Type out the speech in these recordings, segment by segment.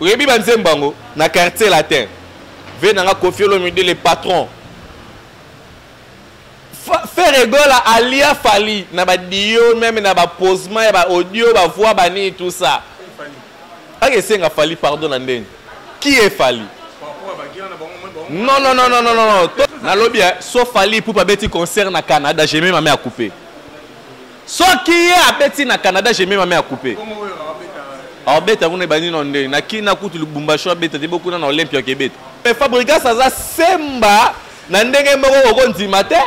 Oyebi ba nzembo yango na quartier latin. Ve nanga Koffi Olomide le patron. Ferre Gola alia Fally na ba dio même na ba posement ya ba audio ba voix ba nini tout ça. Ake senga Fally pardon na ndenge. Qui est Fally? Non non non non non non. Nalobi hein, sauf Fally pour pas beti concert na Canada, j'ai même ma mère coupé. Soki ye abeti na Canada, je mets ma main à couper. Abeta kuna ebandi na nde na Kina kutu Lubumbashi abeta te bokuna na Olympia kebeta. Mais Fabrigas aza semba na ndenge moko okondima te.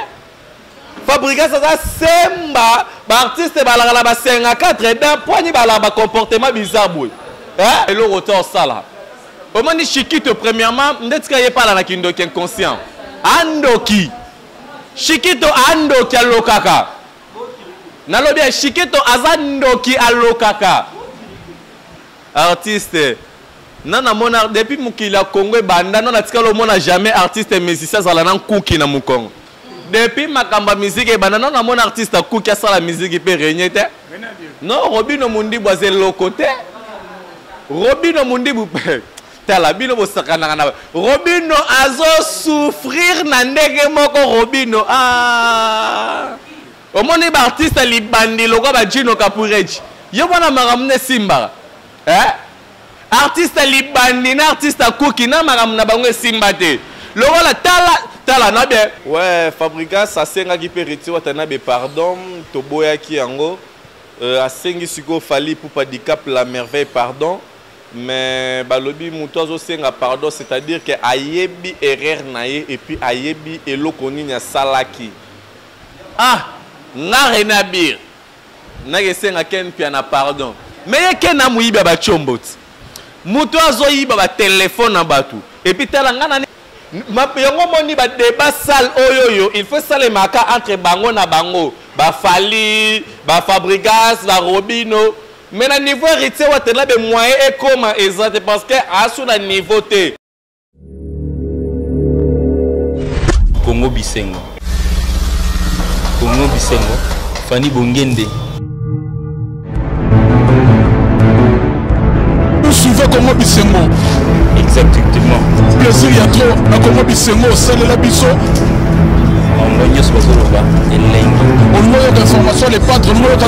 Fabrigas aza semba ba artistes balaka na ba 54 d'un poignet balaka ba comportement bizarre boy. Hein? Eloko to sala. Omoni Chikito premièrement ndeti ka yepala na kindoki inconscient. Andoki. Chikito andoki alokaka. nalobi ya shiketo aza ndoki alokaka artiste na namona depuis mokili ya congo ebanda no natikali omona jamais artiste musicien azala na nkuki na mokongo depuis makambo ya miziki ebanda no namona artiste akuki asala miziki mpe regne te no robino mundibu aza eloko te robino mundibu mpe tala bino bosakanaka na robino azo souffrir na ndenge moko robino ah. omoni baartiste libandi lokwa bajino kapureji yo mwana makambo nde esimbaka eh? artiste libandi na artiste akuki na makambo na bango esimba te lokola tala tala na bien we fabrigas asengaki mpe reti watanabe pardon toboyaki yango euh, asengi sikoyo fali pupa dicap la merveille pardon mais balobi mutu azosenga pardon c'est à dire que ayebi erreur na ye et puis ayebi eloko nini asalaki ah nga rene abir nakesenga ken mpiana pardon mais ye ken amoyibi ya bacombo ti mutu azoyiba batelefone na bato epuis tala nga nani yango omoni badeba sale oyo oyo il faut esalemaka entre bango na bango bafali bafabrigas barobino Mais na niveau heritier watanabe moyen ekoma eza te parce que asu na niveau te Congo bisengo Congo bisengo Fanny Bongende Vous suivez Congo bisengo Exactement Plaisir ya trop na Congo bisengo osalela biso bango nyonso bazoloba elengi olingo yoka information le patre olingo yoka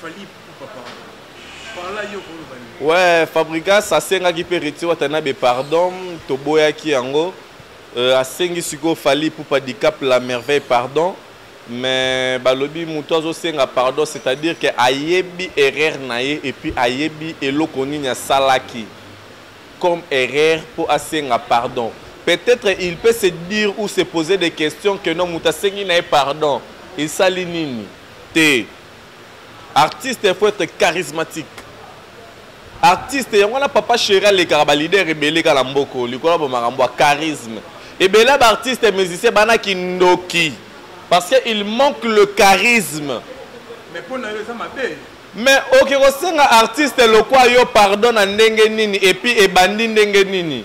Fally Ipupa pardon. Parla yo koloba nini? Ouais, Fabrigas asengaki pe Reti Watanabe pardon, toboyaki yango. Euh, asengi sikoyo Fally Ipupa Dicap la merveille pardon. mais balobi moto azosenga pardon c'est-à-dire que ayebi erreur na ye epuis ayebi eloko nini asalaki comme erreur mpo asenga pardon peut-être il peut se dire ou se poser des questions que non moto asengi na ye pardon esali nini te artiste il faut être charismatique artiste yango wana papa chéri alekaka balider ebele kaka na mboko likolo ya bomakambo ya charisme ebele ya baartiste musicien bana kindoki parce que il manque le charisme mais mpo na yo eza mabe mais oke kosenga artiste lokwa yo pardon na ndenge nini epuis ebandi ndenge nini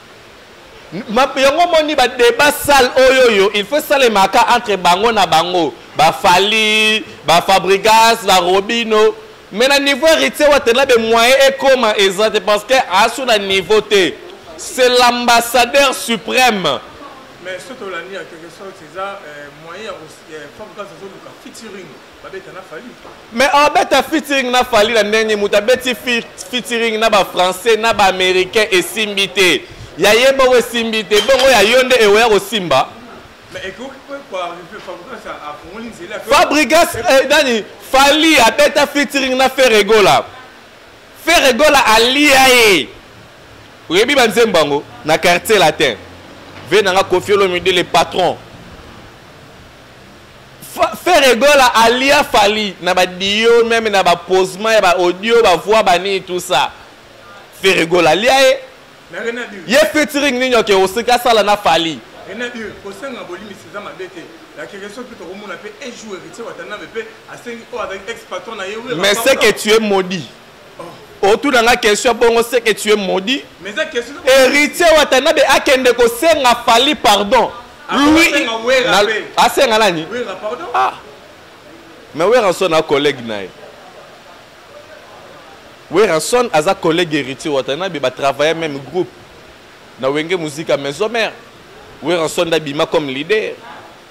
yango omoni badeba sale oyo oyo il faut esalemaka entre bango na bango bafali bafabrigas barobino mais na niveau héritier watela be moyen ekoma eza te parce que asu na niveau te c'est l'ambassadeur suprême mais soki tolandi ya quelque sorte eza euh, moyen ya euh, fabrigas azoluka featuring mais abeta oh, featuring na fali na ndenge moto abeti featuring na bafrançais na baaméricain esimbi te ya ye bongo esimbi te bongo ya yo nde eweya kosimba fabrigas eh, nani fali abeta featuring na feregola feregola alia ye oyebi banzembo yango na quartier latin ve nanga kofiolomide le patron Ferre Gola alia Fally na ba dio meme na ba posement ya ba audio ba voix ba nini tout ça Ferre Gola alia ye ye featuring nini oke osika sala na Fally Renadio kosenga bolimisi eza mabe te la question mpe tokomona mpe un jour héritier watanambe mpe asengi oyo avec ex patron na ye mais c'est que tu es maudit otuna nga question bongo ce que tu es maudit héritier watanabe akende kosenga fali pardon ah, lui asenga nani ah. mais weranson a collègue na ye weranson aza collègue héritier watanabe batravaille même groupe na wenge musika maison mère weranson ndabima comme leader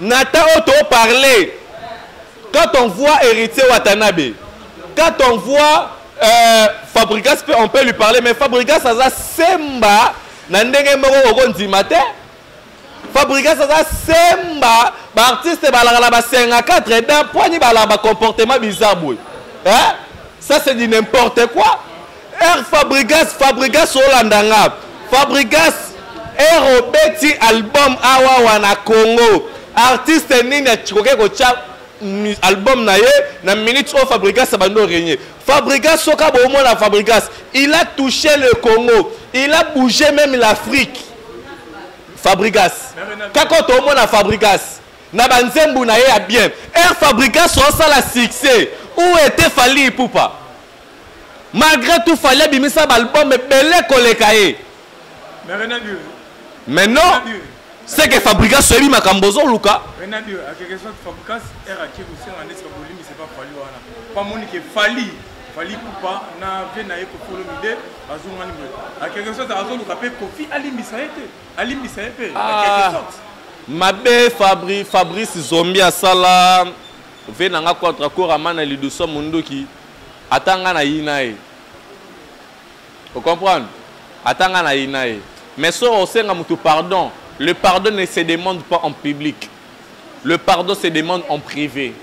Nathan oyo to parler quand on voit Héritier Watanabe quand on voit euh, Fabrigas on peut lui parler mais Fabrigas aza semba na ndenge moko okondima te fabrigas aza semba baartiste balaka na basenga 4 dan poigni balaka bacomportement bizarre boye ça c'est du n'importe quoi Air Fabrigas Fabrigas olanda nga Fabrigas Air obeti album awa wana Congo artiste nini akikoki kotya album na ye na minute oyo Fabrigas abandi oregne Fabrigas soka bomona Fabrigas il a touché le Congo il a bougé même l'Afrique Fabrigas kaka tomona Fabrigas na banzembu na ye ya bien Air Fabrigas osala succès où était Fally Ipupa malgré tout fali abimisa baalbum ebele koleka ye mais non c'est que fabrigas soyebi makambo ozoluka fali kupa na vie na ye kokolo mide azonga nini a quelque sorte azoluka mpe kofi alimbisa ye te alimbisa ye mpe a quelque ah. sorte mabe fabri fabrice zombi asala ve na nga contre akorama na liduso monduki Ata nga na yina ye. O comprendre? Ata nga na yina ye. Mais soki osenga mutu pardon, le pardon ne se demande pas en public. Le pardon se demande en privé.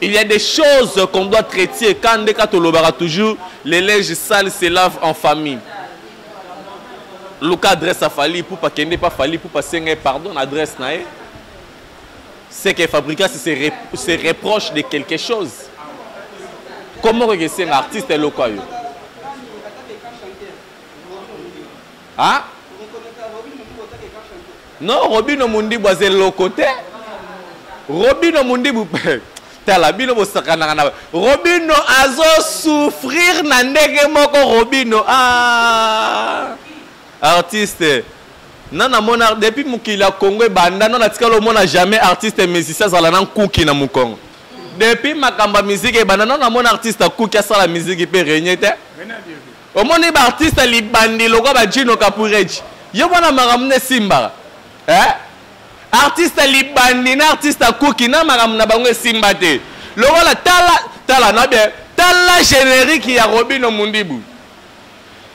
Il y a des choses qu'on doit traiter quand nde ka tolobaka toujours les linges sales se lavent en famille. Luka adresse ya Fally Ipupa kende pa Fally Ipupa senga ye pardon na adresse na ye. c'est que Fabricas se, rep se reproche de quelque chose. Comment que c'est un artiste local Hein Non, Robino Mundibu c'est le côté. Robino Mundibu tala bino bosakanaka na Robino azo souffrir na ndenge moko Robino ah Artiste na na mona depuis mokili ya Congo ebanda na natikala omona jamais artiste musicien azala na nkuki na mokongo depuis makambo ya miziki ebanda na namona artiste akuki asala miziki mpe renye te omoni baartiste libandi lokwa bajino kapureji yo mwana makambo nde esimbaka eh? artiste libandi na artiste akuki na makambo na bango esimba te lokola tala tala na bien tala générique ya robino mundibu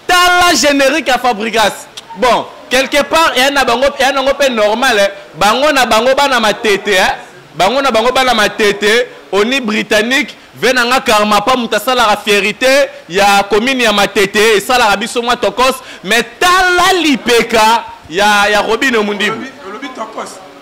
tala generique ya fabrigas bon quelque part eya na bango eya nango mpe normal eh. bango na bango bana matete eh. bango na bango bana matete oni britannique ve na nga karma pa moto asalaka fierité ya commune ya matete esalaka biso mwa tokos mais tala lipeka ya, ya robine mundibu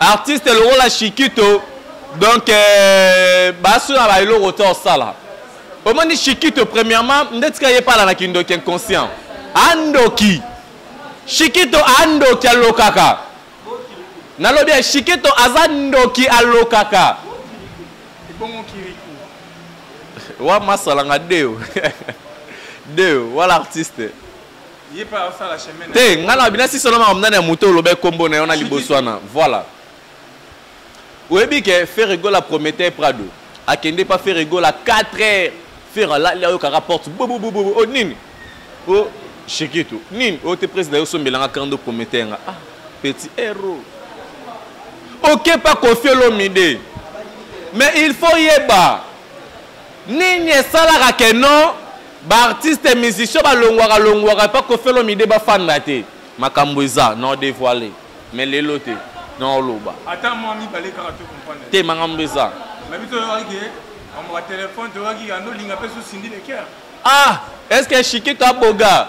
artiste lokola shikito donc euh, basu na baeloko to osala omoni shikito premièrement nde tika ye pala na kindoki inconscient andoki shikito andoki alokaka nalobi ya shikito aza ndoki alokaka wa masalanga deo deo wala artiste te ngai na binasi solo makambo nani ya moto oloba ekombo na yo na liboso wana voilà oyebi ke ferregola prometteur prado akende pa ferregola 4 heures fer alali ayokaka porte bobobobobo o oh, nini o oh, shekitu nini oyo oh, te président yosombelanga kando prometteur nga ah petit hero okepa kofi olomide mais il faut yeba Nini esalaka que non ba artistes musiciens balongwaka longwaka epa Koffi Olomide bafanda te? Makambo eza nao devoiler mais lelo te nao loba. Ata mwa mibale kaka to comprendre. Te makambo eza. Mais biso oyebaki que makambo ya telephone toyebaki yando linga pe sous Cindy le cœur. Ah, est-ce que Shikito aboga?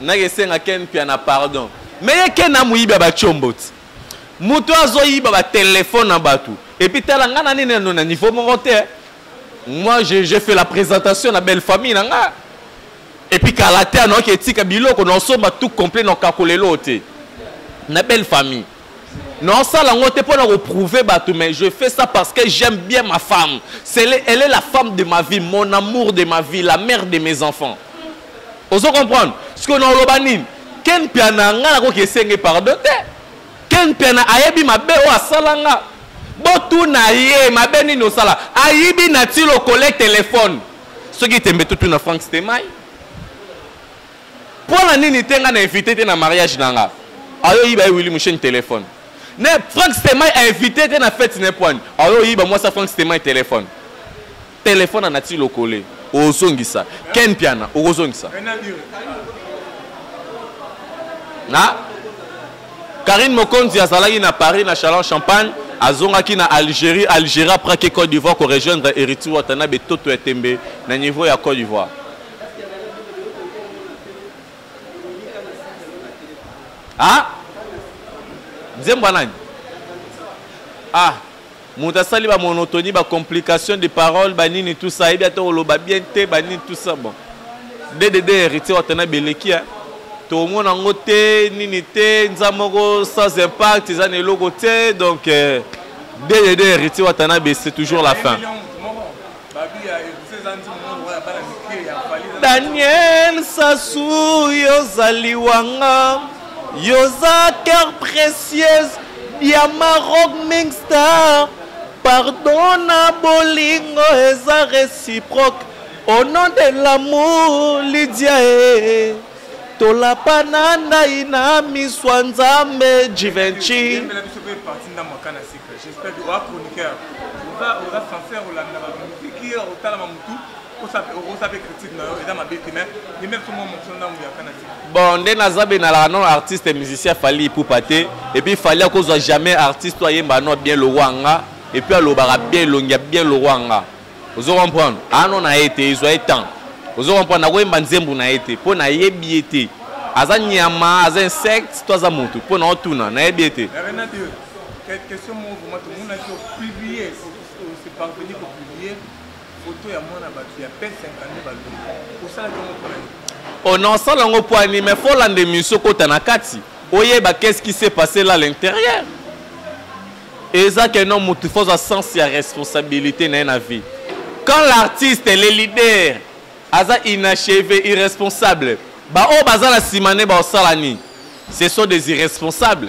Nake senga Ken Mpiana pardon. Mais ye Ken na muyibi ya ba chombo ti. Mutu azo yiba ba telephone na batu. Et puis tala nga na nene no na niveau moko te. Moi je je fais la présentation na belle famille na nga. Et puis kala te anoki etika biloko na osomba tout complet na okakolelo te. Na belle famille. Non, ça la ngote pour nous prouver bateau, mais je fais ça parce que j'aime bien ma femme. Est, elle est la femme de ma vie, mon amour de ma vie, la mère de mes enfants. Vous comprenez Ce qu'on a l'obanin, ken piana ngala ko kesenge pardon te. Ken piana ayebi mabe o asalanga. Botuna ye mabe nini osala. Ayibi na tilo coller téléphone. Ce qui tembe tout na Frank Stemay. pona nini te nga na invite te na mariage na nga ayo yiba ye wili musheni telefone ne frank stemai a invite te na fete ne poani ayo yiba mwasi ya frank stemai telefone telefone anati lokole ozongisa ken piana okozongisa na karine mokonzi azalaki na paris na chalon champagne azongaki na algérie algérie apraki côte d'ivoire korejoindre héritier wata na betoto ya tembe na niveau ya côte d'ivoire ah nzembo ya nani ah moto asali bamonotonie bacomplication de parole banini tout ça ayebi ata oloba bien te banini tout ça bon dddd héritier watana beleki ya tomona yango te nini te nza moko sans impact eza na eloko te donc dddd euh, héritier watana bese toujours la fin daniel sasu yozali wanga yoza cœur précieuse diamant rock mingstar pardon na bolingo eza réciproque au nom de l'amour lidia e tolapa na ndai na miso ya nzambe jivenci J'espère que oa chroniqueur oza oza sincère olanda ba musique otala ma mutu okosa mpe critique na yo eza mabe te mais limete mwa motion ntango yakana te bon nde naza be nalaka non artiste musicien fali ipupa te epuis fali akozwa jamais artiste oyo ayemba no bien lokwa nga epuis alobaka bien elongi ya bien lokwa nga ozo comprendre ano na ye te ezwa ye temps ozo comprendre nakoyemba nzembo na ye te mpo nayebi ye te aza nyama aza insecte to aza motu mpo na otuna nayebi ye te question moko vraiment tomonaki opublie ose parveni kopublie foto ya mwana bato ya pe 52 balongi osalaki yango mpona nini o oh, nasala yango mpo ani mais fo olanda emission kota na kati oyeba qu'est-ce qui s'est passé là à l'intérieur eza ke no motu fo ozwa sens ya responsabilité na ye na vie quand l'artiste le leader aza inachevé irresponsable baoyo baza na nsima nde baosala nini ce sont des irresponsables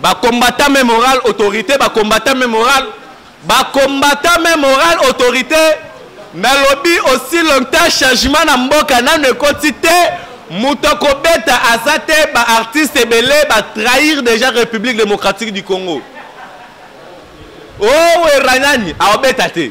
Ba combattant mais moral autorité ba combattant mais moral ba combattant mais moral autorité nalobi aussi longtemps changement na mboka nanu ekoti te moto akobeta aza te ba artiste ebele ba trahir déjà république démocratique du congo owerra oh, nani aobeta te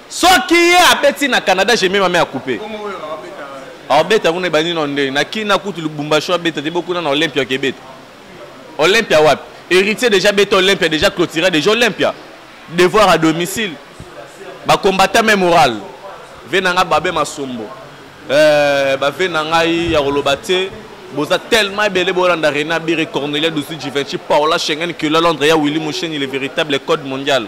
Soki ye abeti na Canada, je mets ma main à couper. Abeta kuna ebandi na nde na Kina kutu Lubumbashi abeta te bokuna na Olympia kebeta. Olympia wapi? Héritier déjà beta Olympia déjà clôtura déjà Olympia. Devoir à domicile. Ba combattant même moral. Venanga babe masombo. Euh, ba venanga ya koloba te boza tellement ebele bolanda rena bire cornelia dusu givenci paola schengen kila londres ya willi musheni le véritable code mondial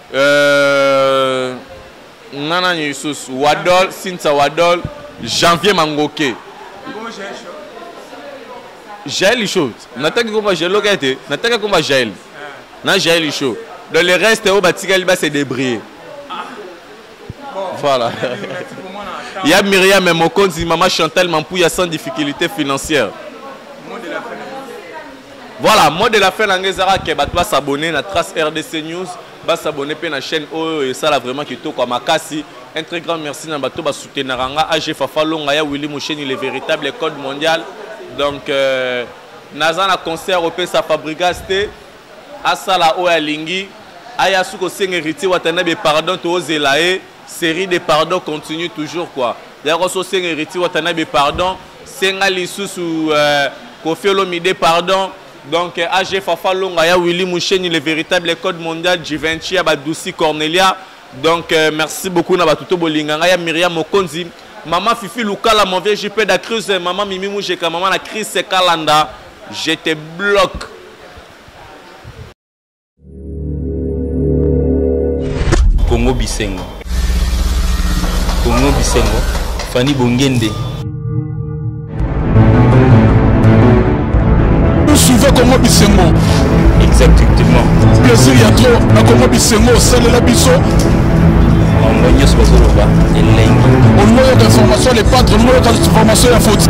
Euh, nga nani lisusu wadol sinsa wadol janvier mangoke jael lisho nataki komba jael oka ete nataki komba jael na jael lisho dans le reste oyo batikali base débrouiller Voilà. ya Myriam Mokonzi, maman Chantal Mampouya sans difficulté financière. Voilà, mot de la fin nangezara que bato ba s'abonner na Trace RDC News, ba s'abonner pe na chaîne oyo et ça là vraiment qui toko makasi. Un très grand merci na bato ba soutenir nga AG Fafa Longa ya Willy Moucheni le véritable code mondial. Donc euh, naza na concert au Pesa Fabrigas te asala oyo alingi aya su kosenga héritier watanabe pardon toozela ye série de pardon continue toujours quoi yako so senga héritier watanabe pardon senga lisusu euh, kofi olomide pardon donc euh, ag fafa longa ya willy musheni le véritable code mondial givenci ya badusi cornelia donc euh, merci beaucoup na bato to bolinga ngai ya miriam mokonzi mama fifi lukala mon vieux jp da crise mama mimi mujeka mama na crise kalanda je te bloque Congo Bisengo. Congo Bisengo. Fanny Bongende. Vous suivez Congo Bisengo. Exactement. Plaisir ya trop na Congo Bisengo osalela biso. bango nyonso bazoloba elengi olingi oyoka information ya lepatre olingi oyoka information ya foti